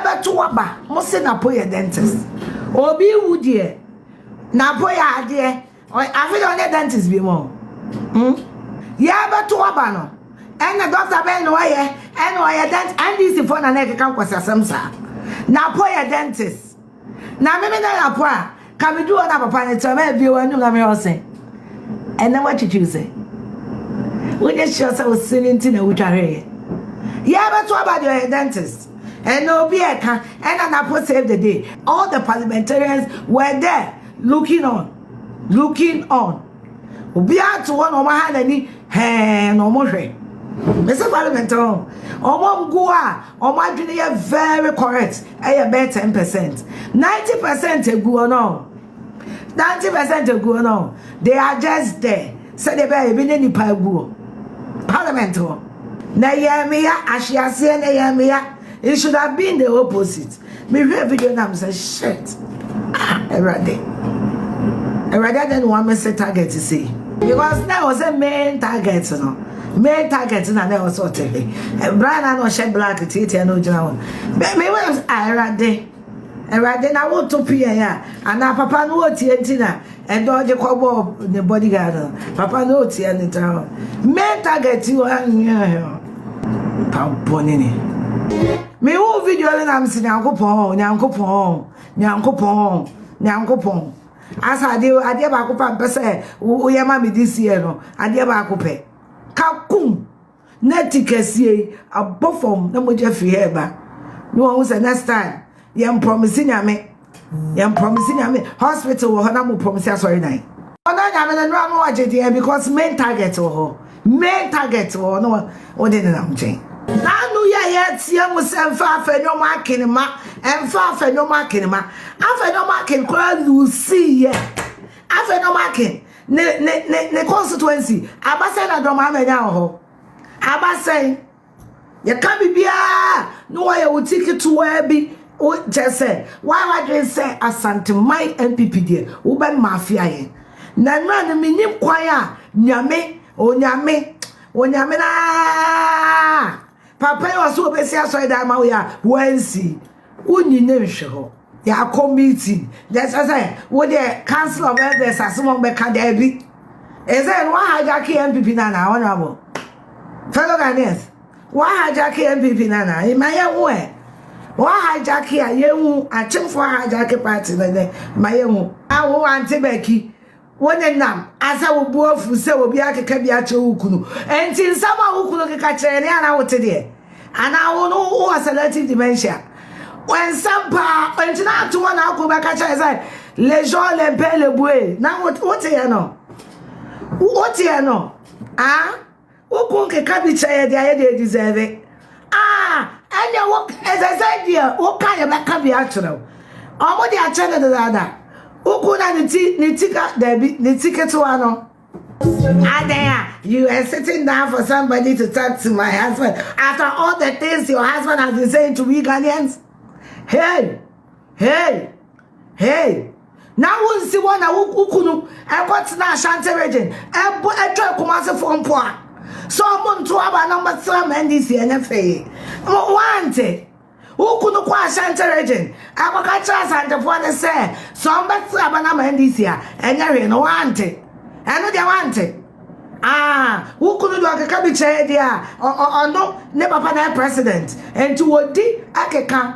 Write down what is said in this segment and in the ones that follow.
bɛto aba mo se napo yɛ dentist obi wu deɛ napo yɛ adeɛ afe deɛ ɔnyɛ dentist bi mo hmm? yɛ bɛto aba no ɛna dɔkta bɛn na ɔyɛ ɛna ɔyɛ dentist ndc fo na na ɛkeka nkwasi asɛm saa napo yɛ dentist na meme na napo a Ka me du hɔ na papa ne tɛmɛ ebie wa nyum na me hɔ se ɛnɛ wa twitwiw se wo nye hyɛ sɛ wo se ne nti na wo twa hwɛ yɛ yɛ bɛ to aba de ɔyɛ dentist ɛnɛ obi ɛka ɛna na po save the day all the parliamentarians were there looking on looking on obi ato hɔ na ɔmo ha n'ani hɛɛ na ɔmo hwɛ mese parliament ɔmo ɔmo mgoa Ɔmo adwene yɛ very correct ɛyɛ bɛyɛ ten percent ninety percent egu hɔ no ninety percent egu hɔ no they are just there sɛdeɛ bɛyɛ ebi ne nipa egu hɔ parliament hɔ na yɛn meya ahweaseɛ na yɛn meya it should have been the opposite. Me hwɛ video na me sɛ shit ah awurade awurade adɛ na wɔn amese target sei. because na ɛwɔ sɛ main target no main target na na ɛwɔ sɛ ɔte he ɛbra na na ɔhyɛ black tietia na ogyina hɔ bɛn mi wɛm awurade awurade na woto pm a anaa papa no wɔtie nti na Ɛda ɔde kɔbɔɔ ne bodyguard no papa na otua ne tra ho main target yi wa nyɛ pabonene me hu video no na me se nyankopɔn nyankopɔn nyankopɔn nyankopɔn asa ade adeɛ baako pa mpɛ sɛ woyɛ ma me this year no adeɛ baako pɛ kakum Na ti kɛseɛ yi abɔ fam na mogya firi ha ɛba na wɔn sɛ next time yɛn promise nyame yɛn promise nyame hospital wɔ hɔ na mo promise asɔre dan ɔna nyame no nora no ɔgye deɛ because main target wɔ hɔ main target wɔ hɔ na wɔde nenam nkyɛn. Nanu yɛ yɛ tia mu sɛ mfa afɛ ne ɔmo akene ma mfa afɛ ne ɔmo akene ma afɛ ne ɔmo akene koraa lusi yɛ afɛ ne ɔmo akene ne ne ne ne constituency abasɛn na dɔm ama nya wɔ hɔ abasɛn yɛka biribiara na wɔyɛ wo ti ketewaa bi kyɛ sɛ wɔayɛ wadwen sɛ asanteman npp deɛ wobɛn mafia yɛ na nnura no menim kwan a nyame onyame onyame naa Papa yi ɔsɛ obesi asɔredan ama wo yɛ a wansi wonyi ne nhwɛ hɔ yɛakɔ meeting na ɛsɛ sɛ wo deɛ council of elders asɛm a wɔbɛka daabi ɛsɛ no wahijack npp no anaa honorable fellow ghanaians wahijack npp no anaa ma yɛhu ɛ wahijack a yɛhu akyemfoɔ hijack party no dɛ ma yɛhu awo ante baki Wonenam asa wo bo afu sɛ obi akeka bi akyerɛ wo kunu. Enti nsɛm a wo kunu keka kyerɛ ne a na wote deɛ? Anaa wo no wowɔ selective dementia? Nsɛm paa, enti na ato hɔ na ako bɛka kyerɛ sɛ les gens les pères le bouet. Na woteɛ no? Woteɛ no? Ah? wokɔ nkeka bi kyerɛ yɛ deɛ ayɛ deɛ deserve ah ɛnna wo ɛsɛ sɛ deɛ woka yɛ bɛka bi akyerɛ wo ɔmo de akyɛ no dedaada wokɔ na ne ti ne ti ka daabi ne ti ketewa no. Adaya, you were sitting down for somebody to talk to my husband after all the things your husband has been saying to we Ghanaians. Hey! Hey! Hey! na wonsi hɔ na wo kunu ɛkɔtena ashanti region ɛbɔ ɛtwa kumasefoɔ mpo a sɛ ɔmo nto aba na ɔmɛsra ma ndc ɛnyɛ fee wante wo kunu kɔ ashanti region ɛkɔka kyerɛ asantefoɔ ne sɛ sɛ ɔmbɛsra aba na ma ndc a ɛnyɛ hwee no wante ɛno deɛ wante Aah wo kunu de ɔkeka bi kyɛɛ deɛ a ɔno ne papa na yɛ president nti wɔdi akeka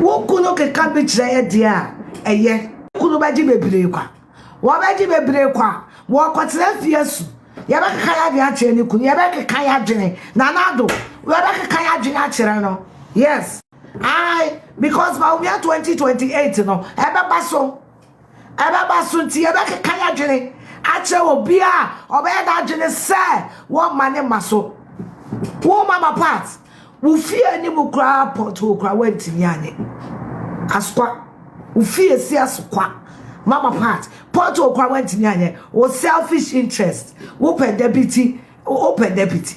wo kunu keka bi kyerɛ yɛ deɛ a ɛyɛ kunu bɛgye bebree kwa wɔbɛgye bebree kwa wɔkɔtena fie su yɛbɛkeka yɛ adwene akyerɛ ne kunu yɛbɛkeka yɛ adwene na n'ado yɛbɛkeka yɛ adwene akyerɛ no yes I because Bawumia 2028 no ɛbɛba so Ɛbɛba so nti, yɛbɛkeka yɛn adwene akyerɛ obiara a ɔbɛyɛ n'adwene sɛ wɔmma ne mma so. Wo mama part, wo fie anim koraa pothole koraa woantumi anyɛ. Asokwa, wo fie si asokwa. Mama part, pothole koraa woantumi anyɛ. Wo selfish interest, wopɛ da bi ti. Wopɛ deputy.